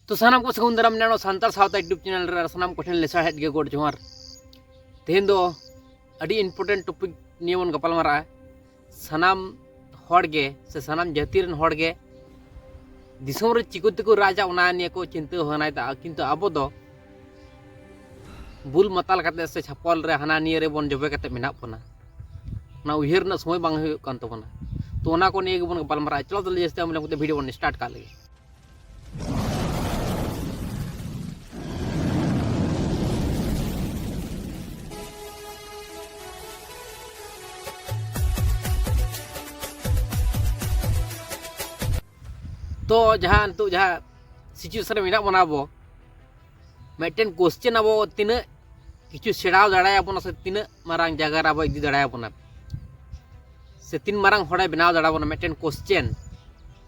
ᱛᱚ ᱥᱟᱱᱟᱢ ᱠᱚ ᱥᱟᱹᱜᱩᱱ ᱫᱟᱨᱟᱢ ᱱᱟᱱᱚ ᱥᱟᱱᱛᱟᱲ ᱥᱟᱶᱛᱟ ᱤᱭᱩᱴᱩᱵᱽ ᱪᱮᱱᱮᱞ ᱨᱮ ᱥᱟᱱᱟᱢ ᱠᱚᱴᱷᱮᱱ ᱞᱮᱥᱟᱲᱦᱮᱫ ᱜᱮ ᱜᱚᱰ ᱡᱚᱦᱟᱨ ᱛᱮᱦᱮᱧ ᱫᱚ ᱟᱹᱰᱤ ᱤᱢᱯᱚᱨᱴᱮᱱᱴ ᱴᱚᱯᱤᱠ ᱱᱤᱭᱮ ᱵᱚᱱ ᱜᱟᱯᱟᱞ ᱢᱟᱨᱟᱜᱼᱟ ᱥᱟᱱᱟᱢ ᱦᱚᱲ ᱜᱮ ᱥᱮ ᱥᱟᱱᱟᱢ ᱡᱟᱹᱛᱤ ᱨᱮᱱ ᱦᱚᱲ ᱜᱮ ᱫᱤᱥᱚᱢ ᱨᱮ ᱪᱤᱠᱟᱹ ᱛᱮᱠᱚ ᱨᱟᱡᱟ ᱚᱱᱟ ᱱᱤᱭᱮ ᱠᱚ ᱪᱤᱱᱛᱟᱹ ᱵᱷᱟᱵᱽᱱᱟᱭᱮᱫᱟ ᱠᱤᱱᱛᱩ ᱟᱵᱚ ᱫᱚ ᱵᱩᱞ ᱢᱟᱛᱟᱞ ᱠᱟᱛᱮ ᱥᱮ ᱪᱷᱟᱯᱚᱞ ᱨᱮ ᱦᱟᱱᱟ ᱱᱤᱭᱟᱹ ᱨᱮᱵᱚᱱ ᱡᱚᱵᱮ ᱠᱟᱛᱮ ᱢᱮᱱᱟᱜ ᱵᱚᱱᱟ ᱚᱱᱟ ᱩᱭᱦᱟᱹᱨ ᱨᱮᱱᱟᱜ ᱥᱚᱢᱚᱭ ᱵᱟᱝ ᱦᱩᱭᱩᱜ ᱠᱟᱱ ᱛᱟᱵᱚᱱᱟ ᱛᱚ ᱚᱱᱟ ᱠᱚ ᱱᱤᱭᱮ ᱜᱮᱵᱚᱱ ᱜᱟᱯᱟᱞ ᱢᱟᱨᱟᱜᱼᱟ ᱪᱚᱞᱚ ᱛᱟᱦᱚᱞᱮ ᱡᱟᱹᱥᱛᱤ ᱟᱢ ᱞᱮᱠᱟᱛᱮ ᱵᱷᱤᱰᱤᱭᱳ ᱵᱚᱱ ᱥᱴᱟᱨᱴ ᱠᱟᱜ ᱞᱮᱜᱮ ᱛᱚ ᱡᱟᱦᱟᱸ ᱱᱤᱛᱚᱜ ᱡᱟᱦᱟᱸ ᱥᱤᱪᱩᱭᱮᱥᱚᱱ ᱨᱮ ᱢᱮᱱᱟᱜ ᱵᱚᱱᱟ ᱟᱵᱚ ᱢᱤᱫᱴᱮᱱ ᱠᱚᱥᱪᱮᱱ ᱟᱵᱚ ᱛᱤᱱᱟᱹᱜ ᱠᱤᱪᱷᱩ ᱥᱮᱬᱟᱣ ᱫᱟᱲᱮᱭᱟᱵᱚᱱᱟ ᱥᱮ ᱛᱤᱱᱟᱹᱜ ᱢᱟᱨᱟᱝ ᱡᱟᱭᱜᱟ ᱨᱮ ᱟᱵᱚ ᱤᱫᱤ ᱫᱟᱲᱮᱭᱟᱵᱚᱱᱟ ᱥᱮ ᱛᱤᱱ ᱢᱟᱨᱟᱝ ᱦᱚᱲᱮ ᱵᱮᱱᱟᱣ ᱫᱟᱲᱮᱭᱟᱵᱚᱱᱟ ᱢᱤᱫᱴᱮᱱ ᱠᱚᱥᱪᱮᱱ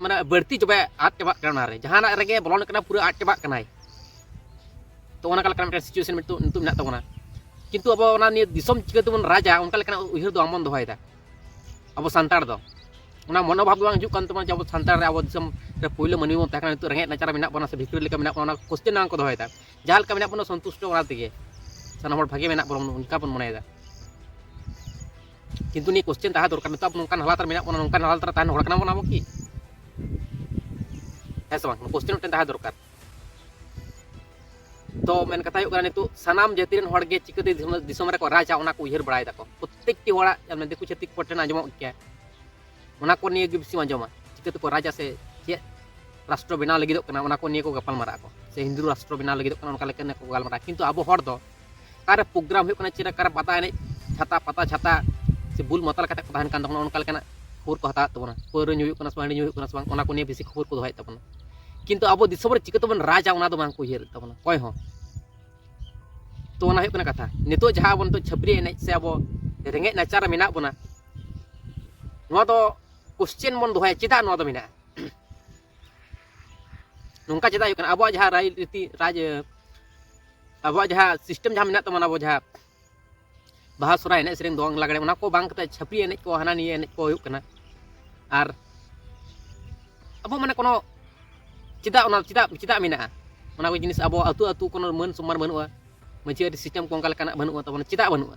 ᱢᱟᱱᱮ ᱵᱟᱹᱲᱛᱤ ᱪᱟᱵᱟ ᱟᱫ ᱪᱟᱵᱟᱜ ᱠᱟᱱᱟ ᱚᱱᱟᱨᱮ ᱡᱟᱦᱟᱱᱟᱜ ᱨᱮᱜᱮ ᱵᱚᱞᱚᱱ ᱠᱟᱱᱟ ᱯᱩᱨᱟᱹ ᱟᱫ ᱪᱟᱵᱟᱜ ᱠᱟᱱᱟᱭ ᱛᱚ ᱚᱱᱟ ᱞᱮᱠᱟᱱᱟᱜ ᱢᱤᱫᱴᱮᱱ ᱥᱤᱪᱩᱭᱮᱥᱚᱱ ᱱᱤᱛᱚᱜ ᱱᱤᱛᱚᱜ ᱢᱮᱱᱟᱜ ᱛᱟᱵᱚᱱᱟ ᱠᱤᱱᱛᱩ ᱟᱵᱚ ᱚᱱᱟ ᱱᱤᱭᱟᱹ ᱫᱤᱥᱚᱢ ᱪᱤᱠᱟᱹ ᱛᱮᱵᱚᱱ ᱨᱟᱡᱟ ᱚᱱᱠᱟ ᱞᱮᱠᱟᱱᱟᱜ ᱩᱭᱦᱟᱹᱨ ᱫᱚ ᱵᱟᱝᱵᱚᱱ ᱫᱚᱦᱚᱭᱮᱫᱟ ᱟᱵᱚ ᱥᱟᱱᱛᱟᱲ ᱫᱚ ᱚᱱᱟ ᱢᱚᱱᱳᱵᱷᱟᱵ ᱫᱚ ᱵᱟᱝ ᱦᱤᱡᱩᱜ ᱠᱟᱱ ᱛᱟᱵᱚᱱᱟ ᱡᱮ ᱟᱵᱚ ᱥᱟᱱᱛᱟᱲ ᱨᱮ ᱟᱵᱚ ᱫᱤᱥᱚᱢ ᱨᱮ ᱯᱳᱭᱞᱳ ᱢᱟᱹᱱᱢᱤ ᱵᱚᱱ ᱛᱟᱦᱮᱸ ᱠᱟᱱᱟ ᱱᱤᱛᱚᱜ ᱨᱮᱸᱜᱮᱡ ᱱᱟᱪᱟᱨ ᱢᱮᱱᱟᱜ ᱵᱚᱱᱟ ᱥᱮ ᱵᱷᱤᱠᱴᱳᱨᱤ ᱞᱮᱠᱟ ᱢᱮᱱᱟᱜ ᱵᱚᱱᱟ ᱚᱱᱟ ᱠᱚᱥᱪᱮᱱ ᱵᱟᱝ ᱠᱚ ᱫᱚᱦᱚᱭᱮᱫᱟ ᱡᱟᱦᱟᱸ ᱞᱮᱠᱟ ᱢᱮᱱᱟᱜ ᱵᱚᱱᱟ ᱥᱚᱱᱛᱩᱥᱴᱚ ᱚᱱᱟ ᱛᱮᱜᱮ ᱥᱟᱱᱟᱢ ᱦᱚᱲ ᱵᱷᱟᱜᱮ ᱢᱮᱱᱟᱜ ᱵᱚᱱᱟ ᱚᱱᱠᱟ ᱵᱚᱱ ᱢᱚᱱᱮᱭᱮᱫᱟ ᱠᱤᱱᱛᱩ ᱱᱤᱭᱟᱹ ᱠᱚᱥᱪᱮᱱ ᱛᱟᱦᱮᱸ ᱫᱚᱨᱠᱟᱨ ᱱᱤᱛᱚᱜ ᱟᱵᱚ ᱱᱚᱝᱠᱟᱱ ᱦᱟᱞᱟᱛ ᱨᱮ ᱢᱮᱱᱟᱜ ᱵᱚᱱᱟ ᱱᱚᱝᱠᱟᱱ ᱦᱟᱞᱟᱛ ᱨᱮ ᱛᱟᱦᱮᱱ ᱦᱚᱲ ᱠᱟᱱᱟ ᱵᱚᱱ ᱟᱵᱚ ᱠᱤ ᱦᱮᱸ ᱥᱮ ᱵᱟᱝ ᱠᱚᱥᱪᱮᱱ ᱢᱤᱫᱴᱮᱱ ᱛᱟᱦᱮᱸ ᱫᱚᱨᱠᱟᱨ ᱛᱚ ᱢᱮᱱ ᱠᱟᱛᱷᱟ ᱦᱩᱭᱩᱜ ᱠᱟᱱᱟ ᱱᱤᱛᱚᱜ ᱥᱟᱱᱟᱢ ᱡᱟᱹᱛᱤ ᱨᱮᱱ ᱦᱚᱲ ᱜᱮ ᱪᱤᱠᱟᱹᱛᱮ ᱫᱤᱥᱚᱢ ᱨᱮᱠᱚ ᱨᱟᱡᱟ ᱚᱱᱟ ᱠᱚ ᱩᱭᱦᱟᱹᱨ ᱵᱟᱲᱟᱭ ᱫᱟᱠᱚ ᱯᱨᱚᱛᱮᱠᱴᱤ ᱦᱚᱲᱟᱜ ᱫᱤᱠᱩ ᱪᱷᱟᱹᱛᱤᱠ ᱠᱚ ᱴᱷᱮᱱ ᱟᱸᱡᱚᱢᱚᱜ ᱜᱮᱭᱟ ᱚᱱᱟ ᱠᱚ ᱱᱤᱭᱮ ᱜᱮ ᱵᱮᱥᱤᱢ ᱟᱸᱡᱚᱢᱟ ᱪᱤᱠᱟᱹᱛᱮ ᱠᱚ ᱨᱟᱡᱟ ᱥᱮ ᱪᱮᱫ ᱨᱟᱥᱴᱨᱚ ᱵᱮᱱᱟᱣ ᱞᱟᱹᱜᱤᱫᱚᱜ ᱠᱟᱱᱟ ᱚᱱᱟ ᱠᱚ ᱱᱤᱭᱮ ᱠᱚ ᱜᱟᱯᱟᱞ ᱢᱟᱨᱟᱜ ᱟᱠᱚ ᱥᱮ ᱦᱤᱱᱫᱩ ᱨᱟᱥᱴᱨᱚ ᱵᱮᱱᱟᱣ ᱞᱟᱹᱜᱤᱫᱚᱜ ᱠᱟᱱᱟ ᱚᱱᱠᱟ ᱞᱮᱠᱟ ᱠᱚ ᱜᱟᱞᱢᱟᱨᱟᱜᱼᱟ ᱠᱤᱱᱛᱩ ᱟᱵᱚ ᱦᱚᱲ ᱫᱚ ᱚᱠᱟᱨᱮ ᱯᱨᱳᱜᱨᱟᱢ ᱦᱩᱭᱩᱜ ᱠᱟᱱᱟ ᱪᱮᱫ ᱚᱠᱟᱨᱮ ᱯᱟᱛᱟ ᱮᱱᱮᱡ ᱪᱷᱟᱛᱟ ᱯᱟᱛᱟ ᱪᱷᱟᱛᱟ ᱥᱮ ᱵᱩᱞ ᱢᱟᱛᱟᱞ ᱠᱟᱛᱮ ᱠᱚ ᱛᱟᱦᱮᱱ ᱠᱟᱱ ᱛᱟᱵᱚᱱᱟ ᱚᱱᱠᱟ ᱞᱮᱠᱟᱱᱟᱜ ᱠᱷᱚᱵᱚᱨ ᱠᱚ ᱦᱟᱛᱟᱣᱮᱫ ᱛᱟᱵᱚᱱᱟ ᱯᱟᱹᱣᱨᱟᱹ ᱧᱩ ᱦᱩᱭᱩᱜ ᱠᱟᱱᱟ ᱥᱮ ᱦᱟᱺᱰᱤ ᱧᱩ ᱦᱩᱭᱩᱜ ᱠᱟᱱᱟ ᱥᱮ ᱵᱟᱝ ᱚᱱᱟ ᱠᱚ ᱱᱤᱭᱮ ᱵᱮᱥᱤ ᱠᱷᱚᱵᱚᱨ ᱠᱚ ᱫᱚᱦᱚᱭᱮᱫ ᱛᱟᱵᱚᱱᱟ ᱠᱤᱱᱛᱩ ᱟᱵᱚ ᱫᱤᱥᱚᱢ ᱨᱮ ᱪᱤᱠᱟᱹ ᱛᱮᱵᱚᱱ ᱨᱟᱡᱟ ᱚᱱᱟ ᱫᱚ ᱵᱟᱝ ᱠᱚ ᱩᱭᱦᱟᱹᱨᱮᱫ ᱛᱟᱵᱚᱱᱟ ᱚᱠᱚᱭ ᱦᱚᱸ ᱛᱚ ᱚᱱᱟ ᱦᱩᱭᱩᱜ ᱠᱟᱱᱟ ᱠᱟᱛᱷᱟ ᱱᱤᱛᱚᱜ ᱡᱟᱦᱟᱸ ᱟᱵᱚ ᱱᱤᱛᱚᱜ ᱪᱷᱟᱹᱯᱨᱤ ᱮᱱᱮᱡ ᱥᱮ ᱟᱵᱚ ᱨᱮᱸᱜᱮᱡ ᱱᱟᱪᱟᱨ ᱨᱮ ᱢᱮᱱᱟᱜ ᱵᱚᱱᱟ ᱱᱚᱣᱟ ᱫᱚ ᱠᱚᱥᱪᱮᱱ ᱵᱚᱱ ᱫᱚᱦᱚᱭᱟ ᱪᱮᱫᱟᱜ ᱱᱚᱣᱟ ᱫᱚ ᱢᱮᱱᱟᱜᱼᱟ ᱱᱚᱝᱠᱟ ᱪᱮᱫᱟᱜ ᱦᱩᱭᱩᱜ ᱠᱟᱱᱟ ᱟᱵᱚᱣᱟᱜ ᱡᱟᱦᱟᱸ ᱨᱟᱭ ᱨᱤᱛᱤ ᱨᱟᱡᱽ ᱟᱵᱚᱣᱟᱜ ᱡᱟᱦᱟᱸ ᱥᱤᱥᱴᱮᱢ ᱡᱟᱦᱟᱸ ᱢᱮᱱᱟᱜ ᱛᱟᱵᱚᱱᱟ ᱟᱵᱚ ᱡᱟᱦᱟᱸ ᱵᱟᱦᱟ ᱥᱚᱨᱦᱟᱭ ᱮᱱᱮᱡ ᱥᱮᱨᱮᱧ ᱫᱚᱝ ᱞᱟᱜᱽᱲᱮ ᱚᱱᱟ ᱠᱚ ᱵᱟᱝ ᱠᱟᱛᱮ ᱪᱷᱟᱹᱯᱨᱤ ᱮᱱᱮᱡ ᱠᱚ ᱦᱟᱱᱟ ᱱᱤᱭᱟᱹ ᱮᱱᱮᱡ ᱠᱚ ᱦᱩᱭᱩᱜ ᱠᱟᱱᱟ ᱟᱨ ᱟᱵᱚ ᱢᱟᱱᱮ ᱠᱳᱱᱳ ᱪᱮᱫᱟᱜ ᱚᱱᱟ ᱪᱮᱫᱟᱜ ᱪᱮᱫᱟᱜ ᱢᱮᱱᱟᱜᱼᱟ ᱚᱱᱟ ᱠᱚ ᱡᱤᱱᱤᱥ ᱟᱵᱚ ᱟᱹᱛᱩ ᱟᱹᱛᱩ ᱠᱳᱱᱳ ᱢᱟᱹᱱ ᱥᱚᱢᱢᱟᱱ ᱵᱟᱹᱱᱩᱜᱼᱟ ᱢᱟᱹᱡᱷᱤ ᱟᱹᱨᱤ ᱥᱤᱥᱴᱮᱢ ᱠᱚ ᱚᱱᱠᱟ ᱞᱮᱠᱟᱱᱟᱜ ᱵᱟᱹᱱᱩᱜᱼᱟ ᱛᱟᱵᱚᱱᱟ ᱪᱮᱫᱟᱜ ᱵᱟᱹᱱᱩᱜᱼᱟ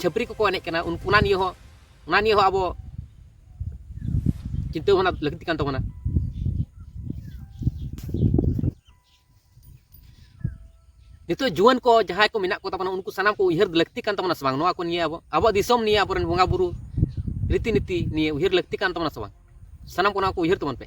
ᱪᱷᱟᱹᱯᱨᱤ ᱠᱚᱠᱚ ᱮᱱᱮᱡ ᱠᱟᱱᱟ ᱩᱱᱠᱩ ᱚᱱᱟ ᱱᱤᱭᱮ ᱦᱚᱸ ᱚᱱᱟ ᱱᱤᱭᱮ ᱦᱚᱸ ᱟᱵᱚ ᱪᱤᱱᱛᱟᱹ ᱵᱷᱟᱵᱽᱱᱟ ᱞᱟᱹᱠᱛᱤ ᱠᱟᱱ ᱛᱟᱵᱚᱱᱟ ᱱᱤᱛᱚᱜ ᱡᱩᱣᱟᱹᱱ ᱠᱚ ᱡᱟᱦᱟᱸᱭ ᱠᱚ ᱢᱮᱱᱟᱜ ᱠᱚ ᱛᱟᱵᱚᱱᱟ ᱩᱱᱠᱩ ᱥᱟᱱᱟᱢ ᱠᱚ ᱩᱭᱦᱟᱹᱨ ᱞᱟᱹᱠᱛᱤ ᱠᱟᱱ ᱛᱟᱵᱚᱱᱟ ᱥᱮ ᱵᱟᱝ ᱱᱚᱣᱟ ᱠᱚ ᱱᱤᱭᱮ ᱟᱵᱚ ᱟᱵᱚᱣᱟᱜ ᱫᱤᱥᱚᱢ ᱱᱤᱭᱮ ᱟᱵᱚᱨᱮᱱ ᱵᱚᱸᱜᱟ ᱵᱩᱨᱩ ᱨᱤᱛᱤ ᱱᱤᱛᱤ ᱱᱤᱭᱮ ᱩᱭᱦᱟᱹᱨ ᱞᱟᱹᱠᱛᱤ ᱠᱟᱱ ᱛᱟᱵᱚᱱᱟ ᱥᱮ ᱵᱟᱝ ᱥᱟᱱᱟᱢ ᱠᱚ ᱱᱚᱣᱟ ᱠᱚ ᱩᱭᱦᱟᱹᱨ ᱛᱟᱵᱚᱱ ᱯᱮ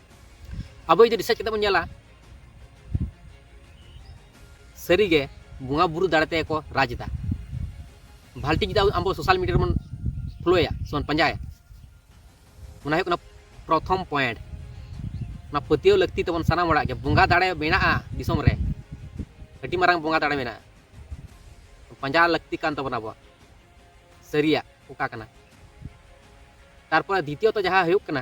ᱟᱵᱚ ᱡᱩᱫᱤ ᱨᱤᱥᱟᱨᱪ ᱠᱟᱛᱮ ᱵᱚᱱ ᱧᱮᱞᱟ ᱥᱟᱹᱨᱤᱜᱮ ᱵᱚᱸᱜᱟ ᱵᱩᱨᱩ ᱫᱟᱲᱮ ᱛᱮᱜᱮ ᱠᱚ ᱨᱟᱡᱽ ᱮᱫᱟ ᱵᱷᱟᱞᱴᱤ ᱡᱩᱫᱤ ᱟᱵᱚ ᱥᱳᱥᱟᱞ ᱢᱤᱰᱤᱭᱟ ᱨᱮᱵᱚᱱ ᱯᱷᱳᱞᱳᱭᱟ ᱥᱮᱵᱚᱱ ᱯᱟᱸᱡᱟᱭᱟ ᱚᱱᱟ ᱦᱩᱭᱩᱜ ᱠᱟᱱᱟ ᱯᱨᱚᱛᱷᱚᱢ ᱯᱚᱭᱮᱱᱴ ᱚᱱᱟ ᱯᱟᱹᱛᱭᱟᱹᱣ ᱞᱟᱹᱠᱛᱤ ᱛᱟᱵᱚᱱ ᱥᱟᱱᱟᱢ ᱦᱚᱲᱟᱜ ᱜᱮ ᱵᱚᱸᱜᱟ ᱫᱟᱲᱮ ᱢᱮᱱᱟᱜᱼᱟ ᱫᱤᱥᱚᱢ ᱨᱮ ᱟᱹᱰᱤ ᱢᱟᱨᱟᱝ ᱵᱚᱸᱜᱟ ᱫᱟᱲᱮ ᱢᱮᱱᱟᱜᱼᱟ ᱯᱟᱸᱡᱟ ᱞᱟᱹᱠᱛᱤ ᱠᱟᱱ ᱛᱟᱵᱚᱱᱟ ᱟᱵᱚᱣᱟᱜ ᱥᱟᱹᱨᱤᱭᱟᱜ ᱚᱠᱟ ᱠᱟᱱᱟ ᱛᱟᱨᱯᱚᱨᱮ ᱫᱤᱛᱤᱭᱚᱛᱚ ᱡᱟᱦᱟᱸ ᱦᱩᱭᱩᱜ ᱠᱟᱱᱟ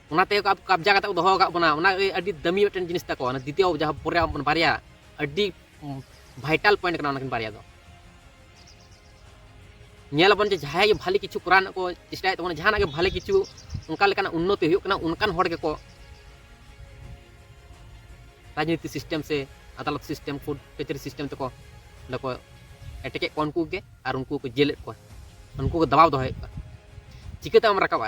ᱚᱱᱟ ᱛᱮᱜᱮ ᱠᱚ ᱠᱟᱵᱽᱡᱟ ᱠᱟᱛᱮ ᱠᱚ ᱫᱚᱦᱚ ᱟᱠᱟᱫ ᱵᱚᱱᱟ ᱚᱱᱟ ᱟᱹᱰᱤ ᱫᱟᱹᱢᱤ ᱢᱤᱫᱴᱮᱱ ᱡᱤᱱᱤᱥ ᱛᱟᱠᱚ ᱚᱱᱟ ᱫᱤᱛᱤᱭᱚ ᱡᱟᱦᱟᱸ ᱯᱚᱨᱮ ᱵᱟᱨᱭᱟ ᱟᱹᱰᱤ ᱵᱷᱟᱭᱴᱟᱞ ᱯᱚᱭᱮᱱᱴ ᱠᱟᱱᱟ ᱚᱱᱟᱠᱤᱱ ᱵᱟᱨᱭᱟ ᱫᱚ ᱧᱮᱞ ᱟᱵᱚᱱ ᱡᱮ ᱡᱟᱦᱟᱸᱭ ᱜᱮ ᱵᱷᱟᱞᱮ ᱠᱤᱪᱷᱩ ᱠᱚᱨᱟᱣ ᱨᱮᱱᱟᱜ ᱠᱚ ᱪᱮᱥᱴᱟᱭᱮᱫ ᱛᱟᱵᱚᱱᱟ ᱡᱟᱦᱟᱱᱟᱜ ᱜᱮ ᱵᱷᱟᱞᱮ ᱠᱤᱪᱷᱩ ᱚᱱᱠᱟ ᱞᱮᱠᱟᱱᱟᱜ ᱩᱱᱱᱚᱛᱤ ᱦᱩᱭᱩᱜ ᱠᱟᱱᱟ ᱚᱱᱠᱟᱱ ᱦᱚᱲ ᱜᱮᱠᱚ ᱨᱟᱡᱽᱱᱤᱛᱤ ᱥᱤᱥᱴᱮᱢ ᱥᱮ ᱟᱫᱟᱞᱚᱛ ᱥᱤᱥᱴᱮᱢ ᱠᱳᱨᱴ ᱠᱟᱹᱪᱟᱹᱨᱤ ᱥᱤᱥᱴᱮᱢ ᱛᱮᱠᱚ ᱚᱸᱰᱮ ᱠᱚ ᱮᱴᱮᱠᱮᱫ ᱠᱚᱣᱟ ᱩᱱᱠᱩ ᱜᱮ ᱟᱨ ᱩᱱᱠᱩ ᱠᱚ ᱡᱮᱞᱮᱫ ᱠᱚᱣᱟ ᱩᱱᱠᱩ ᱠᱚ ᱫᱟᱵᱟᱣ ᱫᱚᱦᱚᱭᱮᱫ ᱠᱚᱣᱟ ᱪᱤᱠᱟᱹᱛᱮ ᱟᱢ ᱨᱟᱠᱟᱵᱼᱟ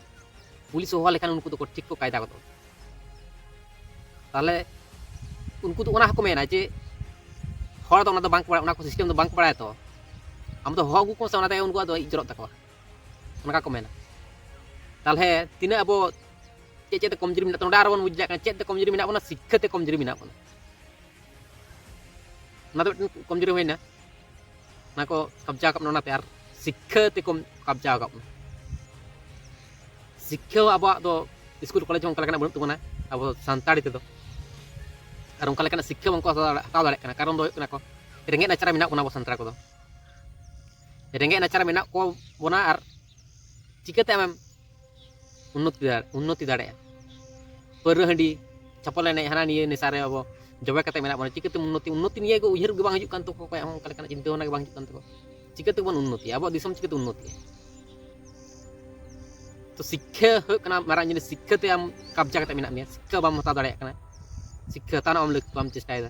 ᱯᱩᱞᱤᱥ ᱦᱚᱦᱚ ᱞᱮᱠᱷᱟᱱ ᱩᱱᱠᱩ ᱫᱚᱠᱚ ᱴᱷᱤᱠ ᱠᱚ ᱠᱟᱭᱫᱟ ᱜᱚᱫᱚᱜᱼᱟ ᱛᱟᱦᱚᱞᱮ ᱩᱱᱠᱩ ᱫᱚ ᱚᱱᱟ ᱦᱚᱸᱠᱚ ᱢᱮᱱᱟ ᱡᱮ ᱦᱚᱲ ᱫᱚ ᱚᱱᱟ ᱫᱚ ᱵᱟᱝ ᱵᱟᱲᱟᱭᱟ ᱚᱱᱟ ᱠᱚ ᱥᱤᱥᱴᱮᱢ ᱫᱚ ᱵᱟᱝ ᱵᱟᱲᱟᱭᱟ ᱛᱚ ᱟᱢ ᱫᱚ ᱦᱚᱦᱚ ᱟᱹᱜᱩ ᱠᱚᱢ ᱥᱮ ᱚᱱᱟ ᱛᱮᱜᱮ ᱩᱱᱠᱩᱣᱟᱜ ᱫᱚ ᱤᱡ ᱡᱚᱨᱚᱜ ᱛᱟᱠᱚᱣᱟ ᱚᱱᱠᱟ ᱠᱚ ᱢᱮᱱᱟ ᱛᱟᱦᱚᱞᱮ ᱛᱤᱱᱟᱹᱜ ᱟᱵᱚ ᱪᱮᱫ ᱪᱮᱫ ᱛᱮ ᱠᱚᱢᱡᱩᱨᱤ ᱢᱮᱱᱟᱜ ᱱᱚᱰᱮ ᱟᱨᱚ ᱵᱚᱱ ᱵᱩᱡᱽ ᱫᱟᱲᱮᱭᱟᱜ ᱠᱟᱱᱟ ᱪᱮᱫ ᱛᱮ ᱠᱚᱢᱡᱩᱨᱤ ᱢᱮᱱᱟᱜ ᱵᱚᱱᱟ ᱥᱤᱠᱠᱷᱟ ᱛᱮ ᱠᱚᱢᱡᱩᱨᱤ ᱢᱮᱱᱟᱜ ᱵᱚᱱᱟ ᱚᱱᱟ ᱫᱚ ᱢᱤᱫᱴᱮᱱ ᱠᱚᱢᱡᱩᱨᱤ ᱦᱩᱭᱱᱟ ᱚᱱᱟ ᱠᱚ ᱠᱟᱵᱽᱡᱟ ᱟᱠᱟᱫ ᱵᱚᱱᱟ ᱚᱱᱟᱛᱮ ᱟᱨ ᱥᱤᱠᱠᱷᱟᱹ ᱛᱮᱠᱚ ᱠᱟᱵᱽᱡᱟ ᱟᱠᱟᱫ ᱵᱚᱱᱟ ᱥᱤᱠᱠᱷᱟᱹ ᱟᱵᱚᱣᱟᱜ ᱫᱚ ᱥᱠᱩᱞ ᱠᱚᱞᱮᱡᱽ ᱦᱚᱸ ᱚᱱᱠᱟ ᱞᱮᱠᱟᱱᱟᱜ ᱵᱟᱹᱱᱩᱜ ᱛᱟᱵᱚᱱᱟ ᱟᱵᱚ ᱥᱟᱱᱛᱟᱲᱤ ᱛᱮᱫᱚ ᱟᱨ ᱚᱱᱠᱟ ᱞᱮᱠᱟᱱᱟᱜ ᱥᱤᱠᱠᱷᱟᱹ ᱵᱟᱝᱠᱚ ᱦᱟᱛᱟᱣ ᱫᱟᱲᱮᱭᱟᱜ ᱠᱟᱱᱟ ᱠᱟᱨᱚᱱ ᱫᱚ ᱦᱩᱭᱩᱜ ᱠᱟᱱᱟ ᱠᱚ ᱨᱮᱸᱜᱮᱡ ᱱᱟᱪᱟᱨ ᱨᱮ ᱢᱮᱱᱟᱜ ᱵᱚᱱᱟ ᱟᱵᱚ ᱥᱟᱱᱛᱟᱲ ᱠᱚᱫᱚ ᱨᱮᱸᱜᱮᱡ ᱱᱟᱪᱟᱨ ᱨᱮ ᱢᱮᱱᱟᱜ ᱠᱚ ᱵᱚᱱᱟ ᱟᱨ ᱪᱤᱠᱟᱹᱛᱮ ᱟᱢᱮᱢ ᱩᱱᱱᱚᱛᱤ ᱩᱱᱱᱚᱛᱤ ᱫᱟᱲᱮᱭᱟᱜᱼᱟ ᱯᱟᱹᱣᱨᱟᱹ ᱦᱟᱺᱰᱤ ᱪᱷᱟᱯᱚᱞ ᱮᱱᱮᱡ ᱦᱟᱱᱟ ᱱᱤᱭᱟᱹ ᱱᱮᱥᱟ ᱨᱮ ᱟᱵᱚ ᱡᱚᱵᱮ ᱠᱟᱛᱮ ᱢᱮᱱᱟᱜ ᱵᱚᱱᱟ ᱪᱤᱠᱟᱹᱛᱮ ᱩᱱᱱᱚᱛᱤ ᱩᱱᱱᱚᱛᱤ ᱱᱤᱭᱟᱹ ᱜᱮ ᱩᱭᱦᱟᱹᱨ ᱜᱮ ᱵᱟᱝ ᱦᱤᱡᱩᱜ ᱠᱟᱱ ᱛᱟᱠᱚ ᱚᱠᱚᱭᱟᱜ ᱦᱚᱸ ᱚᱱᱠᱟ ᱞᱮᱠᱟᱱᱟᱜ ᱪᱤᱱᱛᱟᱹ ᱵᱷᱟᱵᱽᱱᱟ ᱜᱮ ᱵᱟᱝ ᱦᱤᱡᱩᱜ ᱠᱟᱱ ᱛᱟᱠᱚ ᱪᱤᱠᱟᱹᱛᱮ ᱵᱚᱱ ᱩᱱᱱᱚᱛᱤᱭᱟ ᱟᱵᱚᱣᱟᱜ ᱫᱤᱥᱚᱢ ᱪᱤᱠᱟᱹᱛᱮ ᱩᱱᱱᱚᱛᱤᱭᱟ ᱛᱚ ᱥᱤᱠᱠᱷᱟ ᱦᱩᱭᱩᱜ ᱠᱟᱱᱟ ᱢᱟᱨᱟᱝ ᱡᱤᱱᱤᱥ ᱥᱤᱠᱠᱷᱟ ᱛᱮ ᱟᱢ ᱠᱟᱵᱽᱡᱟ ᱠᱟᱛᱮ ᱢᱮᱱᱟᱜ ᱢᱮᱭᱟ ᱥᱤᱠᱠᱷᱟ ᱵᱟᱢ ᱦᱟᱛᱟᱣ ᱫᱟᱲᱮᱭᱟᱜ ᱠᱟᱱᱟ ᱥᱤᱠᱠᱷᱟ ᱦᱟᱛᱟᱣ ᱨᱮᱱᱟᱜ ᱵᱟᱢ ᱪᱮᱥᱴᱟᱭᱮᱫᱟ